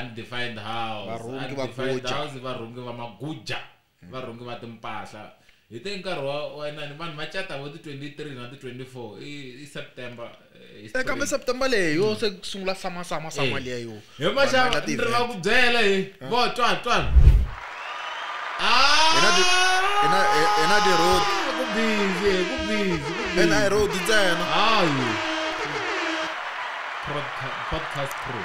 undefined house Varhungi va undefined guja. Mm. house i varhungi va maguja varhungi va timpahla hi te nkarhi wa wa inani vanhu va cata vo ti 23 na ti 24 i, i september eh, hi Eh, kambe spring. september leyi yo se ku sungula sama sama sama Eh. liya yo he Vanhu va endla maxava ti ni ri va event. ku byela he vo twa twa Hina ti- hina hi- hina ti road ku busy he ku busy ku busy ena hi road ntsena hayi Podca- podcast crew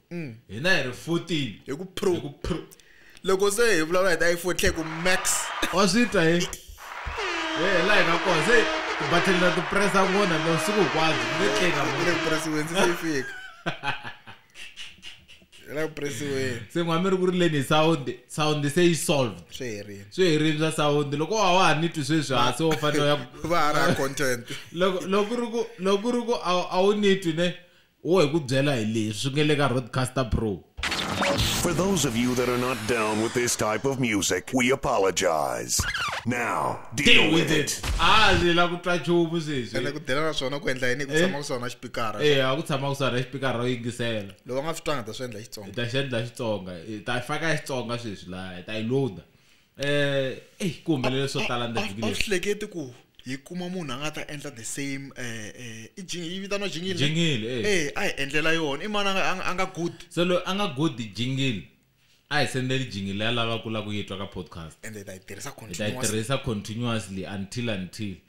mm. hina hi ri 14 hi ku pro hi ku pro loko se hi vulavula hi ta iPhone tlhe ku max wa swi twa hi eh la hina ko se battle na to press a ngona no siku kwazi ni tleka mo le press wen se fik la press wen se ngwami ri ku ri leni sound sound se i solved swi herile swi herile swa sound loko wa wa ni twi sweswi ha se wo fanele ya va ra content loko loko ri ku loko ri ku a wu ni twi ne Wo hi ku byela hi leswi swi nge le ka Roadcaster Pro. For those of you that are not down with this type of music, we apologize. Now, deal, deal with, with it. it. Ah, ndzi la ku twa chumu sweswi. Ene ku dela na swona ku endla yini ku eh? tshama ku swona xipikara. Eh, a ku tshama ku swona xipikara ro yingisela. Loko nga swi twanga ta swi endla Xitsonga. Ta swi endla Xitsonga. Ta faka Xitsonga sweswi la, ta yi loader. eh ey ku humelele swo tala ndzi vhiki leri hleketi ku hi kuma munhu a nga ta endla the same eh eh i jingi yi vitana jingile jingile eh. eh a hi endlela yona i mani a nga good so lo a nga good jingile a hi sendeli jingile ya lava ku la ku yitwa ka podcast and ta yi tirhisa continuously ta yi tirhisa continuously until until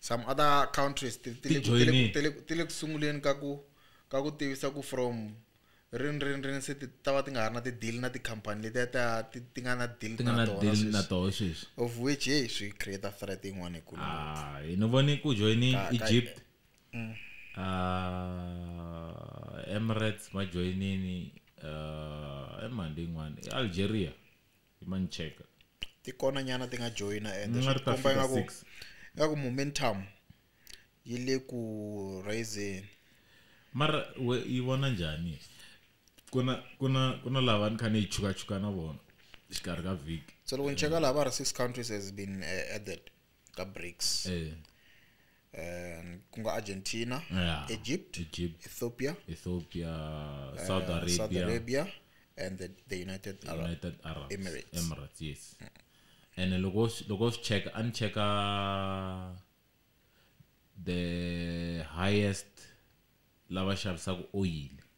some other countries ti- ti le ku- ti le ku- ti le ku- ti le ku sunguleni ka ku ka ku tivisa ku from rini rini rini se ti ta va ti nga ha ri na ti-deal na tikhampani letiya ta ti ti nga na deal ti nga na na tona deal na sweswi. toho sweswi of which hey swi create threat yin'wana ikulu Ah, hi ni vone ku joyini Ka- ka- egypt Mm. Ah, emirates ma joyinini ah, emandi yin'wana i algeria hi ma ni cheka ti kona nyana ti nga joyina ende Ni nga swi ri ta komba fika ingaku six. ingaku momentum yi le ku raiseni mara we yi vona njhani ku na ku na ku na lava ni kha ni yi chukachuka na vona xikarhi ka vhiki so loko ni cheka laha va ri six countries has been eh, added ka brics eh, um, ku nga argentina yeah. egypt egypt ethiopia ethiopia uh, south arabia, south arabia and the, the united arab united arab Emirates. emirates yes and then loko s- loko swi cheka a ni cheka the highest lava xavisaka oyili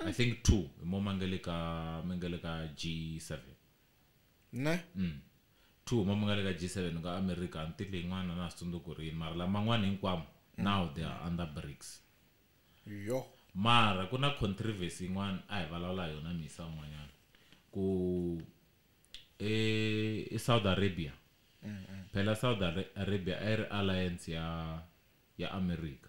I think two hi mo ma nga le ka mi nga le ka G7 ne mm. two hi mo mi nga le ka G7 ku nga America ni tile yin'wana na ha swi tsundzuki ku ri yini mara laman'wana hinkwamo mm. now they are under BRICS yo mara ku na controversy yin'wana a hi vulavula hi yona misa un'wanyana ku e, e Saudi Arabia mm -mm. phela Saudi Arabia a yi ri alliance ya ya America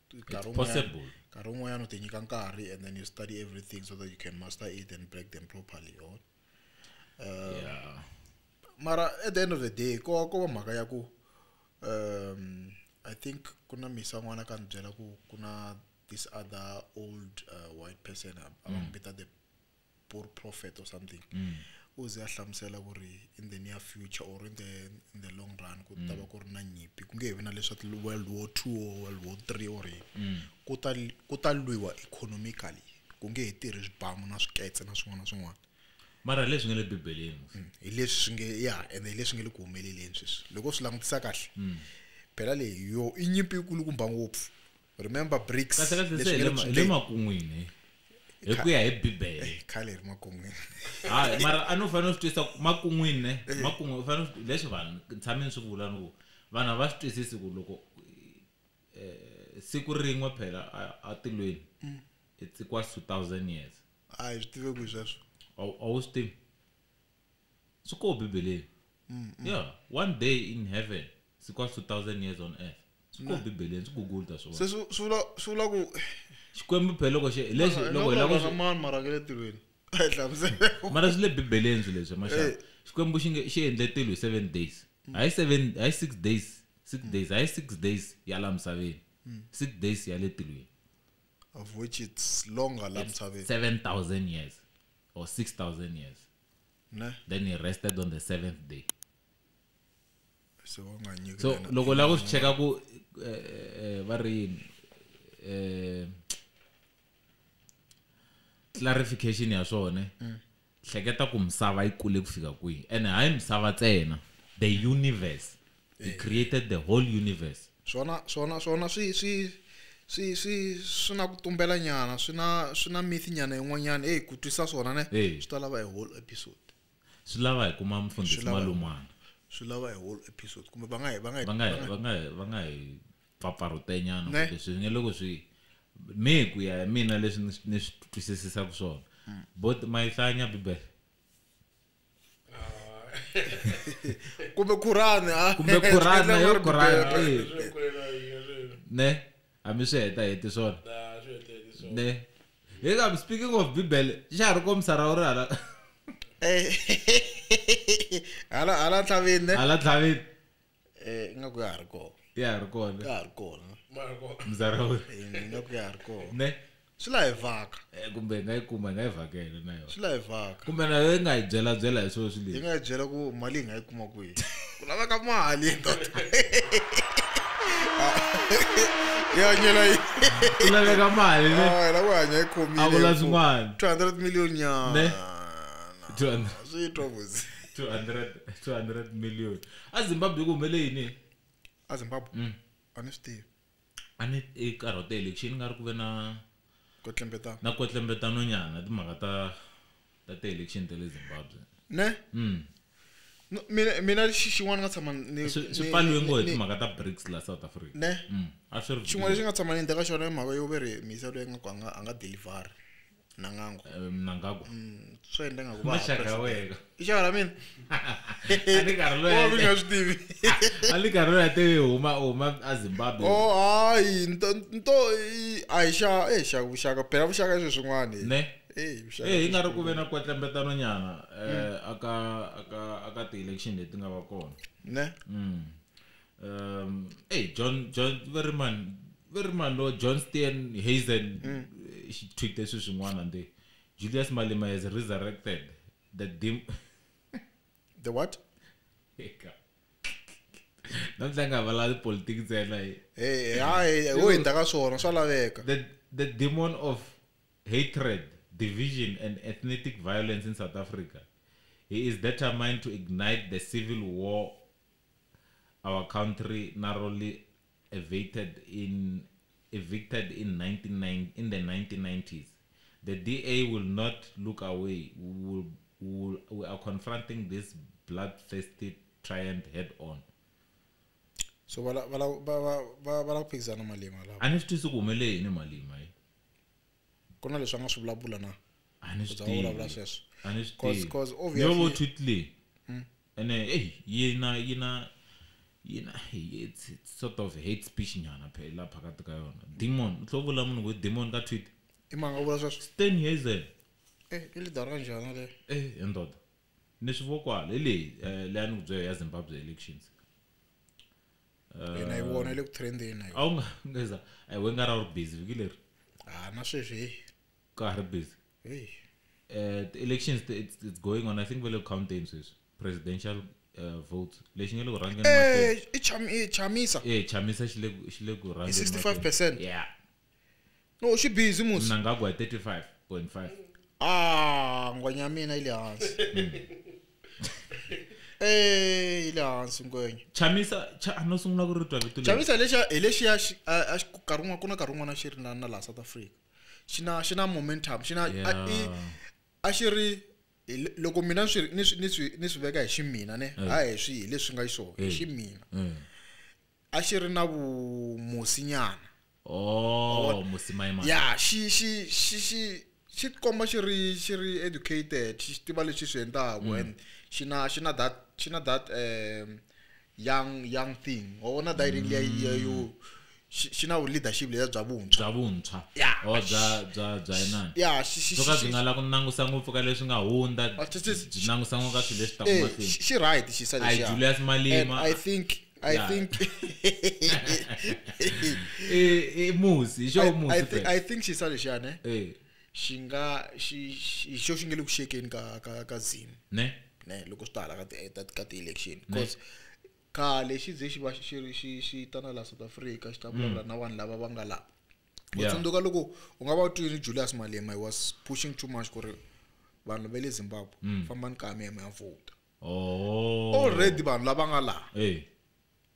possible nkarhi wun'wanyana u ti nyika nkarhi and then you study everything so that you can master it and break them properly or uh, yeah. mara at the end of the day ko ko va mhaka ya ku um i think ku na misa n'wana ka ni byela ku ku na this other old uh, white person a va n'wi mm. vita the poor prophet or something mm. u ze a hlamusela ku ri in the near future or in the, in the long run ku ta va mm. ku ri na nyimpi ku nge he vi na leswa world war two or world war three or yini mm. ku ta ku ta lwiwa economically ku nge he tirhi swibamu na swiketse na swin'wana na swin'wana mara leswi nga le bibeleni hi leswi swi nge ya ende hi leswi nge le ku humeleleni sweswi loko swi langutisa kahle phela leyi yo i nyimpi yikulukumba ngopfu remember bricks kahlekahle leswi se nge le hi le ku le sungeni. makun'wini hi hi ku ya hi bibele Eh, khale hi ri makun'wini hayi mara a ni u fanele u swi twisisa ku makun'wini ne makun'wi u fanele u swi- leswi vanhu ni tshame ni swi vula ni ku vanhu a va swi twisisi ku loko eh, siku rin'we phela a- a tilweni it's equals to thousand years a hi swi tive ku hi sweswo a wu- a wu swi tivi swi koho bibeleni yeah one day in heaven swi kwa 2000 years on earth swi koho bibeleni swi google ta swivona se swi swi vula swi vula ku xikwembu phela loko xi lexi Mara, loko hi lava ku vulavula na swi- mani mara ke le tilweni a hi hlamusele mara swi le bibeleni swilo leswi maxaka Eh. xikwembu xi nge xi endle tilo hi seven days hayi seven hayi six days six days hayi six days ya la misaveni six days ya le tilweni of which it's longer la misaveni seven thousand years or 6,000 years. ne Then he rested on the seventh day. se wa nga nyiki So, lena- loko la ku swi cheka ku eh, eh, va ri yini eh, clarification ya swona hleketa ku misava yi kule ku fika kwihi ene hayi misava ntsena the universe He created the whole universe. Swona, swona, swona swi, swi, swi, swi, swi na ku tumbela nyana, swi na, swi na myth nyana yin'wanyana. Hey, ku twisa swona ne, Hey. swi ta lava a whole episode. Swi lava hi kuma Swi mufundhisi lava- malumana. Swi lava a whole episode. Kumbe va nga hi, va nga hi, Va nga va hi- nga va hi. nga hi- va nga hi pfapfarhutenyana Ne. kumbe swi nge loko swi me ku ya hi mina leswi ni swi- ni swi twisisisaka swona bo mayihlanya bibele kumbe kurani ah. kumbe kurani yo kurani ne hambi swi heta heti swona ne hi ka speaking of bibele xa ha ri komisa ra u ri hala hala hala tlhavini ne hala tlhavini eh ingaku ya ha ri kona ya ha ri kona ya ha ri kona mzara wu Eh, ingaku ya ha ri kona ne swi la hi vhaka Eh, kumbe hi nga yi kuma hi nga yi vhakela na yona swi la hi vhaka kumbe na yona yi nga hi byela byela hi swilo swi hi leswi nga yi byela ku mali hi nga yi kuma kwihi ku laveka mali ndoda yi hanyela yi ku laveka mali ne Ah, la ku hanya yi khomile A ku la swin'wana. 200 million nyana Ne? 200 swi twa vusi 200 200 million a zimbabwe ku humele yini a zimbabwe mm. a ni swi tivi a ni i nkarhi wa ti-election nga ri ku ve na kotlembetano na kotlembetano nyana timhaka ta ta ti-election ta le zimbabwe ne mm. mina mina xin'wana nga tshama swi pfaliwe ngo hi timhaka ta brics la south africa ne mm. a swi ri xin'wana lexi nga tshama ni ndeka xona i mhaka yo ve ri misa loyi nga ku a nga a nga delivery mnangangwa Eh, mnangagwa Mm, so endla nga ku va ha maxaka ya president. wena i xaka ra mina a ni karhi loyi Oh, mi nga swi tivi a ni karhi loyi a te huma huma a zimbabwe o hayi nto nto i- a hi xa e xa vuxaka phela vuxaka i swilo swin'wana hi. ne Eh, vuxaka Eh, i hi nga ri swilo ku ve na kwetlembetano nyana eh, aka aka aka ti-election leti nga va kona swin'wana. ne Mm. um hey john john very man very man lo john stan hazen mm. Eh, she tweet leswi swin'wana ndi julius malema has resurrected the dim the what namhla nga valali politiki ntsena eh, hayi wo hindza ka swona swa laveka the demon of hatred division and ethnic violence in south africa he is determined to ignite the civil war Our country narrowly evicted in evicted in 1990 in the 1990s. The DA will not look away. We will, we will, we are confronting this bloodthirsty triant head on. so va la- va la- va- va- va- va lava ku phikizana malima lava A ni swi twisi ku humelele yini malima yi. ku na leswi a nga swi vulavula na A ni swi Bya vulavula tivi. sweswo. A ni swi Cause- tivi. cause Ni yo vo obviously- Twitley. Ene eyi yina yina yina eyi it's it's sort of hate speech nyana phela la phakathi ka yona. Demon, u tlhe u vula munhu ku i demon ka Twitter? I mani a vula sweswo? Stan Hazel. Eyi i lidara ya njhani yaleyo? Eyi he ndoda. Ni swi vo kwala, hi leyi leyi a ni ku byela ya Zimbabwe elections. Na yi vona yi le ku trend-eni na yona. A wu nga nga za, a hi wena u nga ra u ri busy vhiki leri? Ha na sweswi heyi. Ka ha ri busy? hey uh, the elections it's, it's going on i think vele counting sweswi presidential uh, votes lexi nge le ku rhangeni eh, i eh, chamisa eh chamisa xi le xi le ku rhangeni 65% yeah no xi busy musi na nga ku 35.5 ah ngwenya mina ile hansi hmm. eh ile hansi ngwenya chamisa cha no sungula ku ritwa vito leri chamisa lexi hi lexi ya a xi karun'wa ku na karun'wana xi ri na na la South Africa xi na xi na momentum xi na yeah. i a xi ri loko mina ni swi ni swi ni swi veka hi ximina ne eh. hayi hi swi hi leswi nga xiswona hi eh. ximina eh. a xi ri na vumosinyana oh musimayimana ya xi xi xi xi xi komba xi ri xi ri educated xi tiva leswi swi endlaku mm. and xi na xi na that xi na that um young young thing wa vona dayiri liya liya yo mm. xi na leadership leya bya vuntshwa bya vuntshwa or oh, bya bya bya inani ya swo ka byi nga la ku nangusa ngopfu ka leswi nga hundza ah, byi nangusa ngopfu ka swilo leswi taka eh, mahlweni xi right xi sa lexi ya Julius Malema i think I yeah. think i musi xo musi i think xi sa lexi ya ne eh xi nga xi hi xo xi nge le ku xekeni ka ka ka zim ne ne loko swi ta hala ka ti ka ti-election because khale xi ze xi va xi ri xi xi ta na laha south africa xi ta mm. vulavula na vanhu lava va nga laha u tsundzuka loko u nga va u twini julius malema he was pushing too much ku ri vanhu va le zimbabwe mm. fambani ka mi ya mi ya vhota oh. already vanhu lava nga laha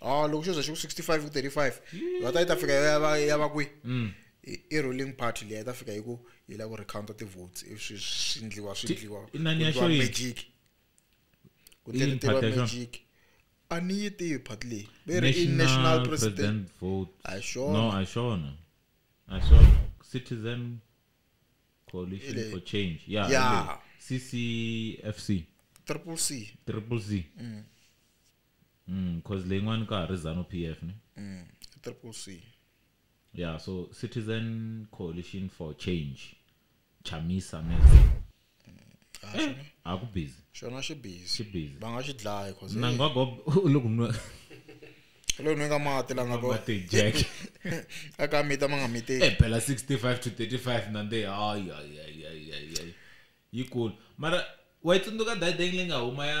oh loko xo za xi ku 65 ku 35 va ta yi ta fika ya va ya va kwi mm. i ruling party leyi ta fika yi ku yi la ku recounta ti-votes swi swi ndliwa swi ndliwa magic ku tirhiwa magic a ni yi tivi party leyi ve ri i national president vote a xona no a xona a xona citizen coalition for change yeah, yeah. ccfc triple c triple c mm. Umm coz leyin'wana ka ha ri Zanu PF ne? Umm i Triple C. Yeah so Citizen Coalition for Change, Chamisa Mesa. Umm a xona. A ku busy. Xona xi busy. Xi busy. Va nga xi dlaya coz. Mnangagwa u le ku nwa. U le ku nweni ka mati la nga ko. Mati Jack. A ka mita ma nga miteki. Eh phela 65 to 35 na nde hayi hayi hayi hayi hayi. Yi kulu. Mara wa yi tsundzuka Dayideng leyi nga huma ya.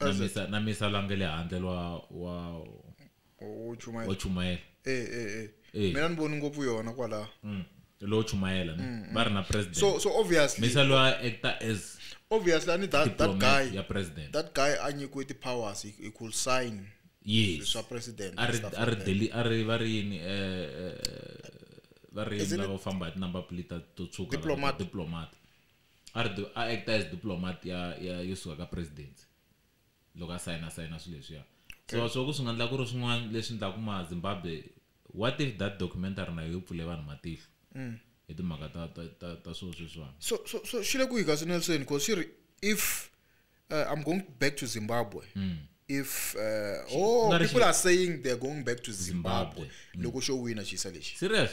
na As a- misa na misa la nge le handle lwa wa wo chumayela wa chumayela eh eh eh Eh. mina ni voni ngopfu yona kwalaho mm. lowo chumayela ne va ri na president Mm, so so obviously misa lwa actor as obviously ani that that diplomat guy ya president that guy a nyikiwe ti powers he, he could sign yes swa president a and ri stuff a ri like that. deli a ri va ri yini eh, eh, va ri yini Isn't it- lava famba hi tinumber plate to tshuka Diplomat. lava- diplomat A ri a actor as diplomat ya ya yo suka ka presidency loko a sayina sayina swilo leswiya so swo ku swi nga endla ku ri swin'wana leswi endlaku ma Zimbabwe what if that documentary na yo yi pfule vanhu matihlo hi timhaka ta ta ta ta swo sweswiwani so so so xi le kwihi kasi Nelson cause xi ri if uh, I'm going back to Zimbabwe if uh, oh nga ri xi- people are saying they're going back to Zimbabwe Zimbabwe. loko xo wina xisa lexi serious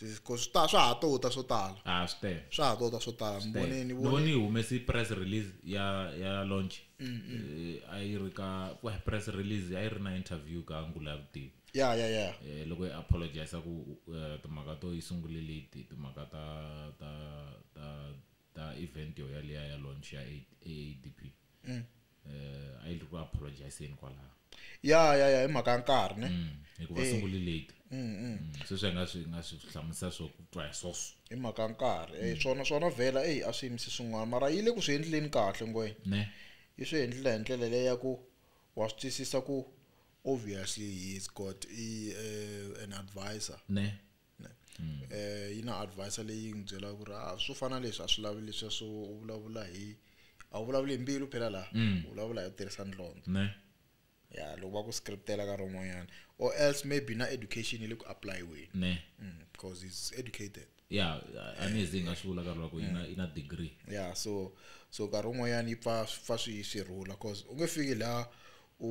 because swa swa ha to ta swo tala ah swi tele swa ha to ta swo tala ni vone ni vone ni humesi press release ya ya launch mm, mm. Eh, a yi ri ka ku press release a yi ri na interview ka ngula vutivi ya ya ya eh loko yi apologize ku eh, timhaka to yi sungule late timhaka ta ta ta ta event yo yaliya ya launch ya AADP mm. eh a yi ri ku apologizeni kwalaho ya ya ya hi mhaka ya nkarhi ne mm, hikuva eh. sunguli late mm, mm. mm sweswi nga swi nga swi hlamusa swo twa hi sweswo hi mhaka ya nkarhi eh mm. swona swona vhela eyi a swi yimisi swin'wana mara yi le ku swi endleni kahle ngwenya ne yi swi endlela hi ndlela leyi ya ku wa swi twisisa ku obviously he's got a, uh, eh, an advisor ne mm. eh yi na advisor leyi n'wi byelaka ku ri a ah, swo fana leswi a swi lavi leswi swo u vulavula hi a wu vulavuli hi mbilu phela laha mm. u vulavula hi ku tirhisa ndlondlo ya loko va ku scriptela ka rin'wanyana or else maybe na education yi le ku applyiweni ne mm, because he's educated ya anizi nga swi vula karhi loko yi na yi na degree ya so so karhi wun'wanyana yi pfa pfa swi swi rhula cause u nge fiki laha u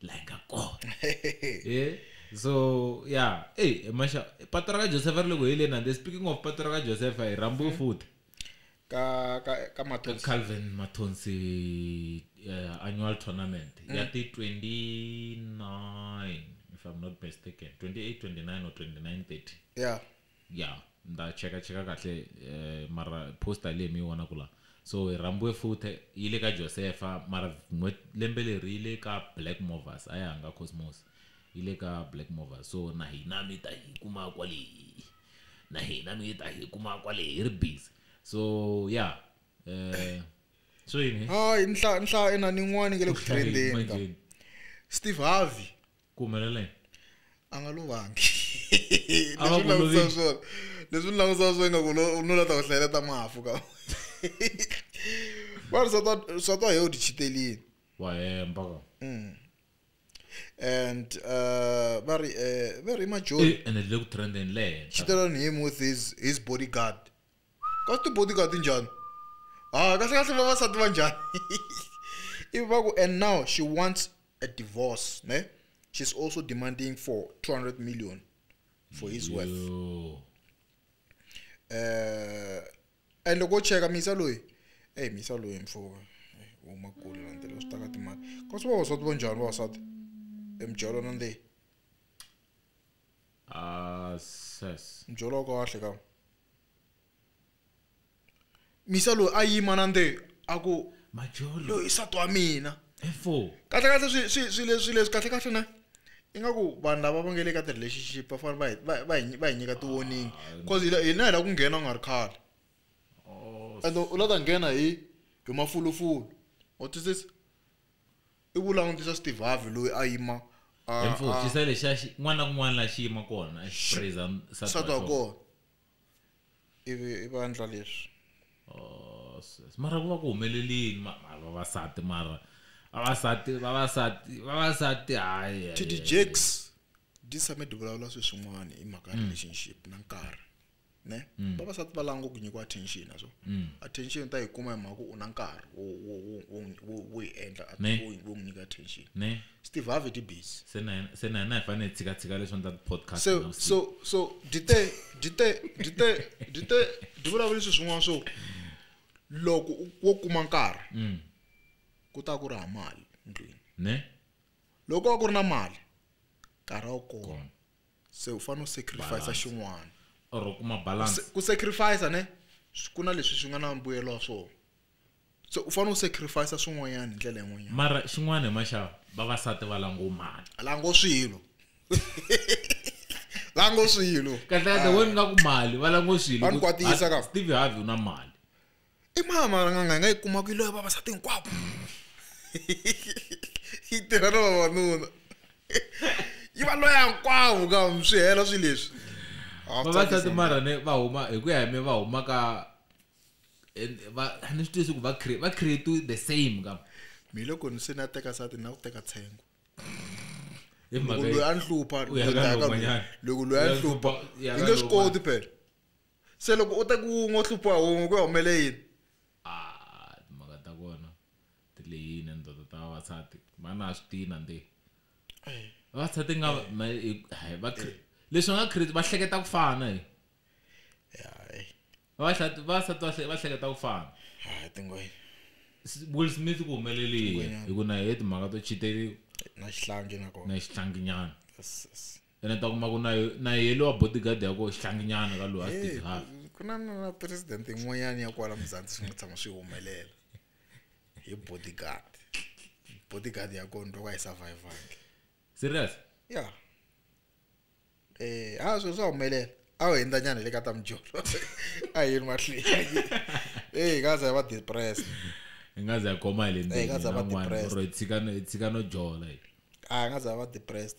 like a god eh so yeah hey masha patu raka josefa ri le ku heleni and speaking of patu raka josefa hi rambo mm-hmm. futhi ka ka ka mathonsi calvin mathonsi uh, annual tournament mm. ya ti 29 if i'm not mistaken 28 29 or 29 30 yeah Ya nda cheka cheka kahle mara poster leyi mi yi vonaku la so hi rhambiwe futhe yi le ka Josefa mara lembe leri yi le ka Black Movers a ya hanga Cosmos yi le ka Black Movers so na hina mi ta hi kuma kwale na hina mi ta hi kuma kwale hi ri busy so ya swo yini he. Hayi nhlayo nhlayo inani yin'wani yi nga le ku trend-eni ka Steve Harvey ku humelela yini a nga lovangi A va leswi ku langutisa lovile. swona leswi ni langutisa swona ingaku lo- nuna ta ku hlayeleta mafu ka vanhu swa twa- swa twa hi u tichitelini wa hemba ka Mm. and uh, va ri eh, va ri majoni Eh, ene le ku trendeni le henhla chitelani him with his, his bodyguard ka swi ti-bodyguard njhani ha kahlekahle vavasati va njhani ivi va ku and now she wants a divorce ne she's also demanding for 200 million for his wealth Yo. eh and loko cheka misa loyi hey misa loyi mfoka u makulu landela swi taka timali kasi vavasati va njhani vavasati emjalo na ndleyi ases byolo kahle ka misa loyi a yima na nde a ku majolo loyi sati wa mina efo kahle kahle swi swi swi leswi leswi kahle kahle na ingaku vanhu lava va nge le ka ti-relationship va fanele va hi- va va hi va hi nyika ti-warning cause hi la- hina hi la ku nghena u nga ri khale and u la ta nghena hi hi mafulufulu wa twisisa i ku langutisa steve harvey loyi a yima a- hi mfumo a- xisa lexa xi- n'wana na kun'wana la xi yima kona a xi praise nsati nsati wa wa kona kona ivi i va endla leswi Oh, sis. mara ku va ku humelelini ma- ma- vavasati mara vavasati vavasati vavasati hayi hayi, td hayi. jakes di tshame di vulavula sweswin'wana hi mhaka ya relationship na nkarhi ne mm. vavasati va lava ku nyikiwa attention na so mm. attention ta yi kuma hi mhaka ku u na nkarhi wo yi endla wo n'wi nyika attention ne steve harvey ti busy se na se na na hi fanele hi tshika tshika leswi ndla podcast so so so dite dite dite dite di vulavula sweswi n'wana so loko wo kuma nkarhi mm. ku ta ku ri ha mali ndlwini ne loko a ku ri na mali nkarhi a wu kona se u fanele u sacrifice Balance. xin'wana or u kuma balance ku sacrifice ne swi- ku na leswi swi nga na mbuyelo wa swona so u fanele u sacrifice swin'wanyana hi ndlela yin'wanyana mara xin'wana hi maxava vavasati va lango mali lango swilo lango swilo kahlekahle wena nga ku mali va lango swilo Vanhu ku- kwatisa ka. Steve Harvey u na mali i mani malan'anga hi nga yi kumaka yi loya vavasati hinkwavo yi tirha na vavanuna yi va loya hinkwavo ka swi hela swi leswi vavasati marhane va huma hi ku ya hi mi va huma ka va ni swi tiyisi ku va va create the same ka mi loko ni se ni ya teka sati ni na ku teka tshengo loko loyi a ni hlupha loko loyi a ni hlupha i nge swi koti phela se loko u teka wun'we u hluphiwa wun'we ku ya humele yini ah timhaka ta kona ti lehile ndoda ta vavasati va na swi tina ndi vavasati nga va leswi va nga create va hleketa ku fana hi vavasati vavasati va hleketa ku fana ha tingwenya Will Smith ku humelelile hi ku na he timhaka to chiteliwa na xihlangi na kona na xihlanginyana yes yes ene ta kuma ku na na yehe lowa bodyguard ya koho xihlanginyana ka loyi a state half ku na na president yin'wanyana ya kwala muzantsi swi nga tshama swi humelela hi bodyguard bodyguard ya kona loko a yi survivange serious ya eh ha swilo swa humelela a wu hindzanyana hi le ka ta mujolo a yini mahlweni eyi hi nga za hi va depressed hi nga za hi khoma hi le Eh, hi nga za hi va ndzeni depressed. ro hi tshika no- hi tshika no jola hi a hi nga za hi va depressed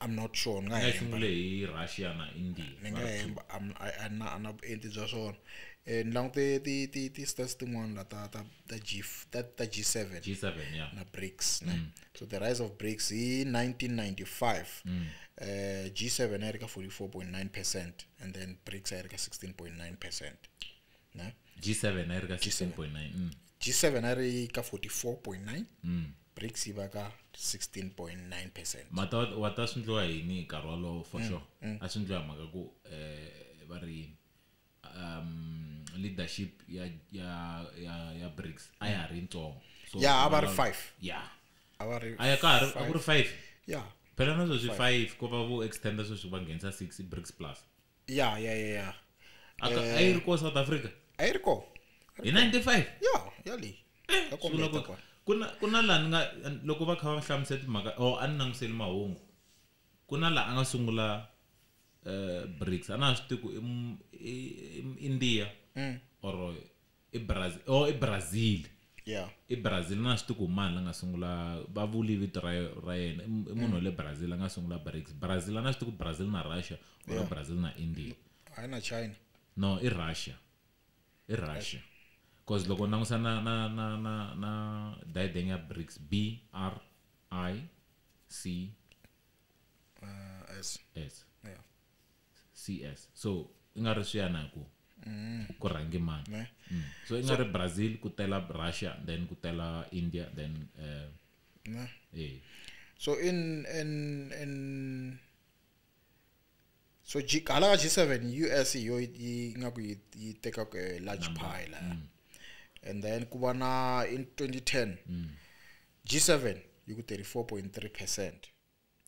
I'm not sure ni nga nga xungule hi Russia na India ni nga hemba a na a na vuenti bya swona eh ni langute ti ti ti stats tin'wana la ta ta ta G ta ta G7 G7 yeah na BRICS ne mm. so the rise of BRICS hi 1995 mm. eh G7 a yi ri ka 44.9% and then BRICS a yi ri ka 16.9% ne g7 a yi ri ka 16.9 mm. g7 a ri ka 44.9 mm. brics yi va ka 16.9 percent mata wa ta swi ndliwa yini hi nkarhi walowo for mm, sure mm. a swi ndliwa hi mhaka ku um va ri yini um leadership ya ya ya ya brics a ya ha ri yitsongo so ya a va ri five ya a va ri a ya ka ha ri a ku ri five ya phela na sweswi five ko va vo extenda sweswi va nghenisa six brics plus ya ya ya ya Aka- Eh. a yi ri ko south africa a yi ri ko hi 95 ya ya leyi Eh, ya swi vula kombeta ku- kwala ku na ku na laha ni nga loko va kha va hlamusela timhaka o a ni langutiseli mahungu ku na laha a nga sungula um brics a na ha swi tivi ku i m- i- i m- india or i Brazil oh i Brazil yeah i Brazil na swi tiku mani la nga sungula va vuli vito ra ra yena i munhu wa le Brazil a nga sungula BRICS Brazil a na swi tiku Brazil na Russia or Yeah. Brazil na India hayi na china no i Russia i Russia cause loko ni langusa na na na na na diadeng ya BRICS B R I C uh, as S yeah cs so i nga ri swiya na ku ku rhangi mani Ne. Mm. so i nga ri brazil ku tela russia then ku tela india then eh, ne eh. so in in in so G, hala ka g7 us hi yo yi- yi nga ku yi yi teka ku, eh, large Number. pie la and then ku va na in 2010 g7 yi ku 34.3 percent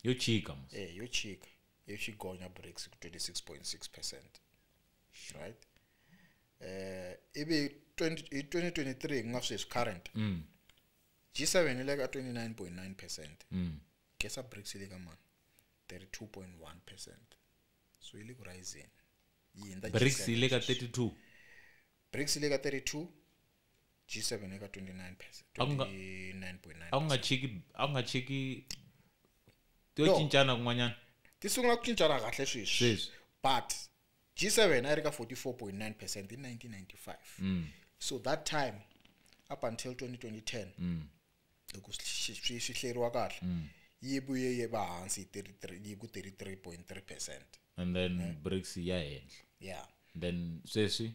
yo chika mos eh yo chika yo xigonya BRICS ku 26.6 percent right eh ivi 20 hi 2023 ku nga sweswi current mm. G7 yi le ka 29.9 percent mm. kesa BRICS yi le ka mani 32.1 percent so yi le ku rising yi hindza BRICS yi le ka 32 BRICS yi le ka 32 G7 eka 29 percent A ku nga- 29.9 a ku nga chiki a ku nga chiki to No. cincana kun'wanyana ti sungula ku cincana kahle sweswi Sweswi. but G7 a yi ri ka 44.9 percent hi 1995 Mm. so that time up until 2010 Mm. loko swi- swi swi- swi hleriwa kahle yi vuye yi va hansi hi 33 yi ku 33.3 percent and then brics ya henhla yeah then sweswi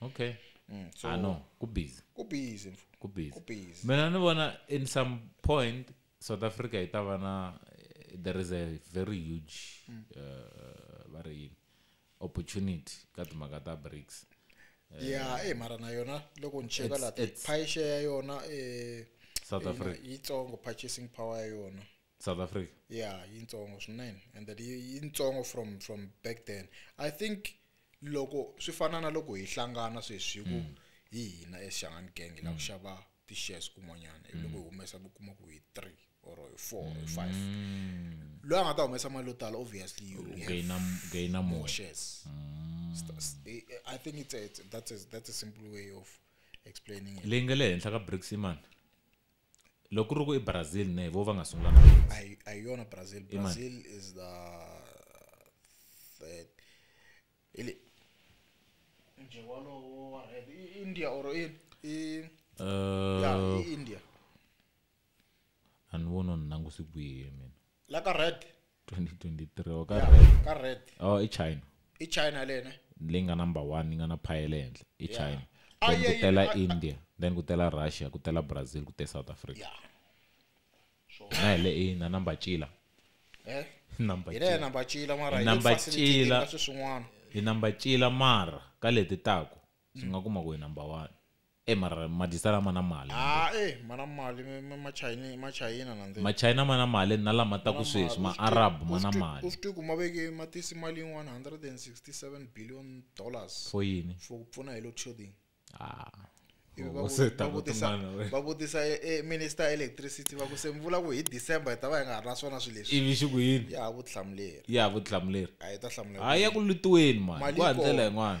okay Mm, so i know ku busy ku busy mfo. ku busy Ku busy. mina ni vona in some point south africa yi ta va na eh, there is a very huge Mm. uh, va ri yini opportunity ka timhaka ta brics ya eh mara na yona loko ni cheka It's- la it's- pie share ya yona eh South ina- Africa. yitsongo purchasing power ya yona south africa ya yintsongo swinene and that yi- yintsongo from from back then i think loko swi fana na loko hi hlangana sweswi ku hi hina exangani gang la ku xava ti-shares kun'wanyana hi loko hi humesa ku kuma ku hi three or hi four or hi five loyi a nga ta humesa mali yo tala obviously you will have gaina gaina more more shares St- s- i I think it's a, it's, that's, a, that's a simple way of explaining it leyi nga le henhla ka bricks imani loko ku ri ku i brazil ne hi vo va nga sungula na a hi a hi yona brazil Imani. brazil is the third hi le nje walowo wa red i i india or i i ya Uh, i india a ni voni ni languse kwihi mina la ka red 2023 or ka ya red ka red oh i china i china lene leyi nga number one yi nga na phaya le henhla i Yeah. china Ah, then yeah, ku tela yeah. india then ku tela russia ku tela brazil ku te south africa ya na hi le i na number cila eh number hi le cila number chila mara Hi hi le number facilitating chila. ka sweswin'wana hi number cila mara ka leti taku swi nga kuma ku hi number one e mara madyisa lama na mali ha e ma na mali machayina machayina nandzeni machayina ma na mali na lama ta ku sweswi maarab ma na mali u swi tiku ma veke ma tisi mali yin'wana 167 billion dollars for yini for ku pfuna hi load shedding ah va vutisa e, e minister electricity va ku se mi vula ku hi december hi ta va hi nga ha ri na swona swilo leswi ivi xi ku yini ya vutihlamuleri ya vutihlamuleri a yi ta hlamula a ya ku lutiweni mani ku handlela yin'wana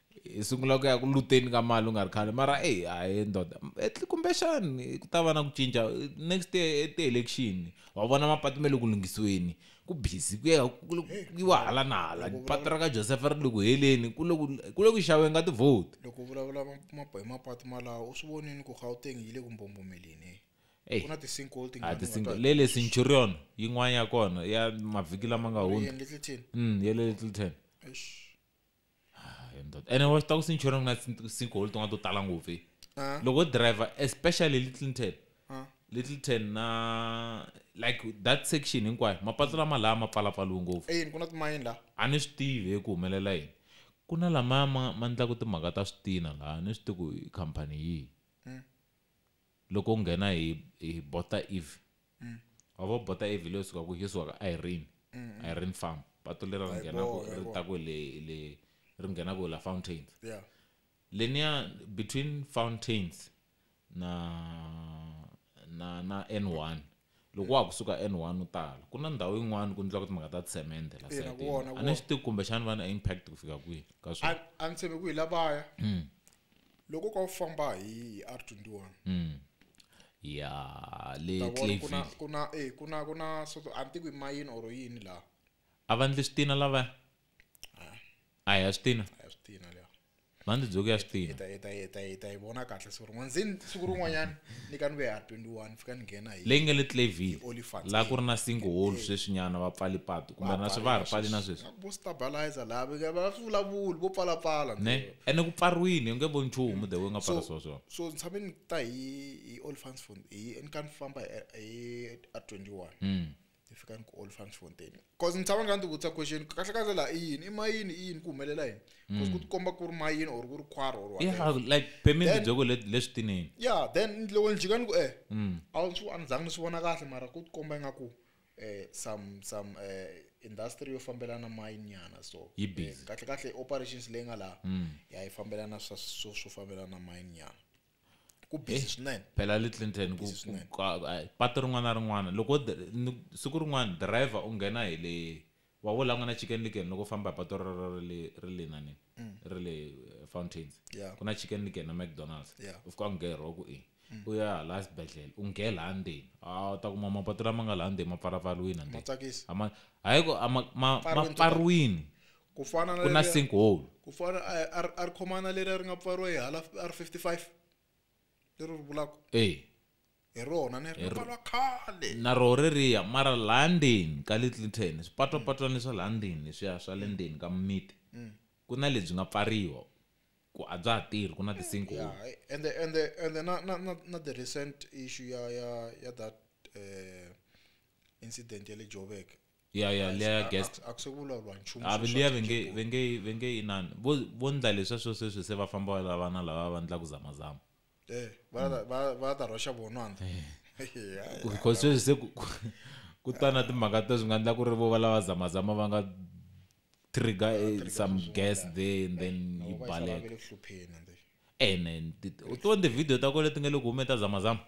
hi sungula ku ya ku luteni ka mali u nga ri khale mara eyi a hi ndoda kumbexani ku ta va na ku cinca next year ti-election wa vona mapatu me le ku lunghisiweni ku busy ku ya yiwa hala na hala patu ra ka joseph ri le ku heleni ku le ku xaweni ka tivhoti loko vulavula hi mapatu malawo u swi vonini ku gauteng yi le ku mbombomeleni ku na ti-sinkhole tingatinga le le centurion yin'wana ya kona ya mavhiki lama nga hundza ya le littleton Ah, he ndoda. ene wa swi ta ku sinchona ku na sin- sinkhole tin'wana to tala ngopfu eh. Ah, loko driver especially little ten ah. little ten na like that section hinkwayo mapatu lama laha ma pfalapfaliwe ngopfu eyini ku na timayini laha a ni swi tivi hi ku humelela yini ku na lamaya ma ma endlaku timhaka ta switina laha a ni swi tivi ku i khampani yihi Loko u nghena hi hi Botha Eve wa vo Botha Eve hi leyi u sukaka yo suka ka Irene Irene farm patu lera ri nghenaka ri ta ku le le ri nghenaka hi la Fountains yeah leniya between Fountains na na na N1 loko wa ha ku suka n one u tala ku na ndhawu yin'wana ku endliwaka timhaka ta tsemende la a ni swi tivi kumbexani vana impact ku fika kwihi ka swona a ni tshembe ku hi lavaya hmm. loko ka u famba hi r twenty one hmm. ya le kuna kuna eh kuna kuna so a ni tivi mayini or yini laha a va ndli switina lavaya a hi ya switina a hi switina mhani tidzoki ya swi tiva ta ta ta ta yi vona kahle siku rin'wana zini siku rin'wanyana ni ka ni ve ha 21 fika ni nghena hi leyi nga le clavin laha ku ri na single hole sweswinyana va pfali patu kumbe na swi va ha ri pfali na sweswi vo stabilizer laha va va swi vulavuli vo pfalapfala ne ene ku pfariwile u nge voni nchumu the way nga pfala swona swona so ni tshame ni ta hi hi olifans fund hi ni ka ni famba hi hi 21 hi fika ni ku olifan fontain bcause ni tshama ni ka ni ti vutisa question kahle kahle laha i yini i mayini i yini ku humelela yini bcause ku mm. ti komba ku ri mayini or ku ri khwara or like pemini byoko leswi tinini ya then loko ni jika ni ku eh mm. a swi a ni zangi ni swi vona kahle mara ku ti komba ingaku um eh, some some um industry yo fambelana mayini nyana so eh, kahle kahle operations leyi nga laha mm. ya yi fambelana swo fambelana mayini nyana ku busy swinene phela le clinton ku, ku, ku patu rin'wana na rin'wana loko siku rin'wana driver u nghena hi le wa wo langwa na chicken licken loko famba hi patu ri le nani mm. ri le eh, fountains ku na chicken licken na mcdonalds u fika u nghera ku e u ya hala xibedhlele u nghela ha ndzeni a wu ta kuma mapatu lama nga laha ndzeni ma pfarapfariwini a ndzeni hayi ma pfariwini ku fana na ku na leriya- sinkhole ku fana a a ri- a ri khomana leri a ri nga pfariwa hi hala a ri 55 leri ri vulaka ee hi rona ni ri nga pfariwa khale na roho reriya mara laha ndzeni ka le clinton swipatwapatwana swa laha ndzeni leswiya swa le ndzeni ka mimiti ku na lebyi nga pfariwa ku a bya ha tirhi ku na ti-sinkhole Yeah, I- and the, and the, and the, not, not, not, not the recent issue ya ya ya that uh, incident ya le Joburg ya ya liya ya guest a ku se vulavuriwa nchumu a liya ve nge ve nge ve nge inani vo vo ndla leswa swo sweswi se va famba la vana lava va ndla ku zama zama eh va va va ta rhoxa vona anda because sweswi se ku ku ta na timhaka to swi nga ndla ku ri vo va lava zama zama va nga trigger eh, trigger some swin'wana gas laha. there and then Na yi vona se va baleka ve le ku hlupheni and then- ene u to ndzi video ta kona leti nga le ku humeni ta zamazama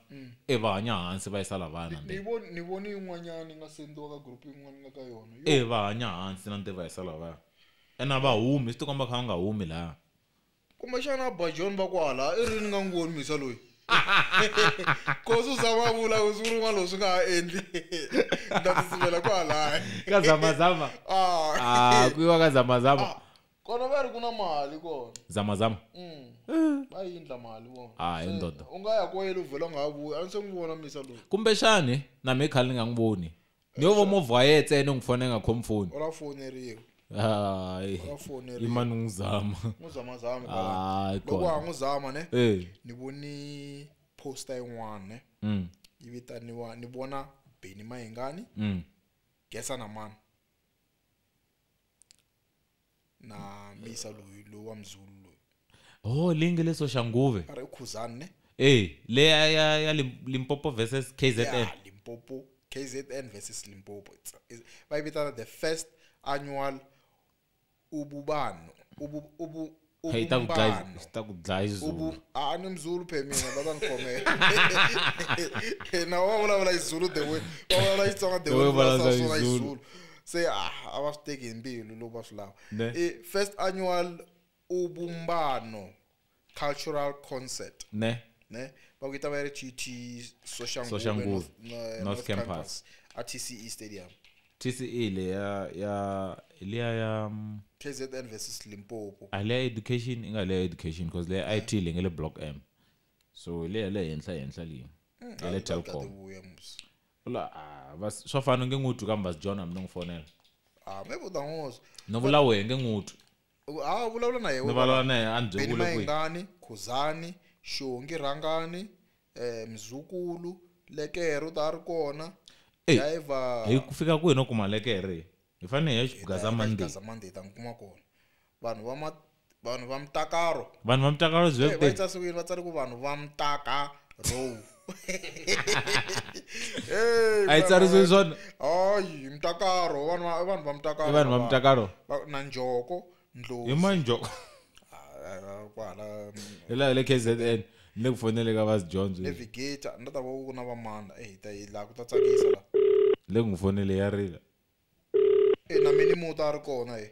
e va hanya hansi va yisa lavana ni voni ni voni yin'wanyana yi nga sendiwa ka group yin'wana nga ka yona Yo, e va hanya hansi na nti va yisa lavana ene a va humi swi tikomba kha va nga humi laha kumbexana bajon va kwala i rini nga ngoni misa loyi kosi u zama a vula ku siku rin'wana lowu swi nga ha endli nda tsutsumela kwalaya ka zamazama ah. ah, ku yiwa ka zamazama ah, kona va ri ku na mali kona zamazama mm. va yindla mali vona ah, hi ndodo u nga ya koyele u vhela u nga ha vuyi a ni se n'wi vona misa loyi kumbexani na mi khale ni nga n'wi voni ni yo vo movha wa ye ntsena u n'wi fona yi nga khomi foni u la foneriwa hayi u la foneriwa ima ni n'wi zama n'wi zama zama hayi loko wa ha n'wi zama ne eh. ni voni poster yin'wana ne mm. yi vitaniwa ni vona beni mayingani mm. gesa na mani na misa loyi loyi wa mzulu loyi oh leyi nge le soxanguve a ri i khuzani ne e leya ya ya Lim- limpopo versus kzn ya limpopo kzn versus limpopo It's- it's- va yi vitana the first annual ububano ubu, ubu, Hey, ta ku dlaya ubumbano iz- ta ku dlaya izulu ubu ah ni mzulu phe mina baba ngikhomela na wa vulavula izulu the way wa vulavula xitsonga the The way way u vulavula vulavula swona Izulu. izulu se ah a va swi teki hi mbilu loko va swi lava Ne. i first annual ubumbano cultural concert ne ne va ku yi ta va yi ri gt Soshanguve, soshanguve North- no- eh, North North Campus. atce stadium tce le ya ya le ya ya mm, kzn versus limpopo a le ya education inga le ya education because le ya IT le nge le block M so le ya le henhla henhla leyi Mm, ya le hayi, Telkom tate vuya musi la ah, vas- swa fana nge ngutu kambe vas John hambi no n'wi fonela ah maybe u ta n'wi wozwa no vula wehe nge ngutu ha vulavula na yehe ni valala na yena a ni byele beni ku le kwihi mayengani khuzani xongi rhangani um mzukulu lekero ta ri kona Ey, driver hi ku fika kwihi no kuma lekere hi fanele hi ya xigaza monday monday ta n'wi kuma kona vanhu va ma- vanhu va mutakaro vanhu va mutakalo Eh, va byebde yitsa siku yini va tsale ku vanhu va mutakaro a yi tsarisiwi swona hayi mtakaro vanhu va- vanhu va mtakaro i vanhu va lava. mutakalo Va- na njoko hi ndlozi manjoko Ah, kwala hi laha le kzn ni le ku fonele ka vas jones navigator ni ta va ku na vamanda e hi ta yi laha ku ta tsakisa la le ku n'wi fonele ya rila e na mini muta a ri kona e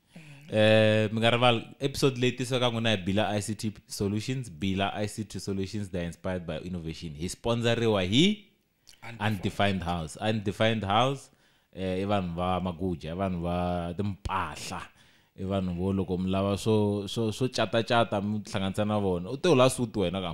Eh mingarival episode leyi tisiwaka n'wina hi Bila ICT Solutions, Bila ICT Solutions they are inspired by innovation. Hi sponsoriwa hi Undefined House. Undefined House eh i vanhu va Maguja, i vanhu va timpahla. I vanhu vo loko mi lava swo swo swo cata cata mi tihlanganisa na vona. U te u la suit wena ka.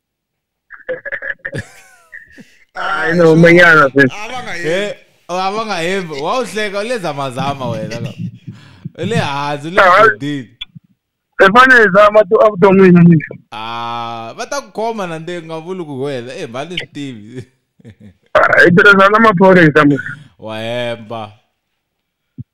hayi no manyana eh, oh, abangahembi wawuhleka ulenza mazama wena le hansi le dini efanele zama to avuton'wini ni ah va ta ku khoma na nde nga vuli ku wena eh mhani swi tivi hi tirhisana maphorisa mu wa hemba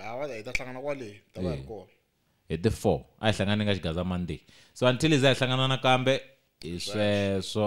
hava hi ta hlangana kwale ta va hi ri kona hi ti four a hi hlangane ka xigaza monday so until iza hi hlangana nakambe hi sweswo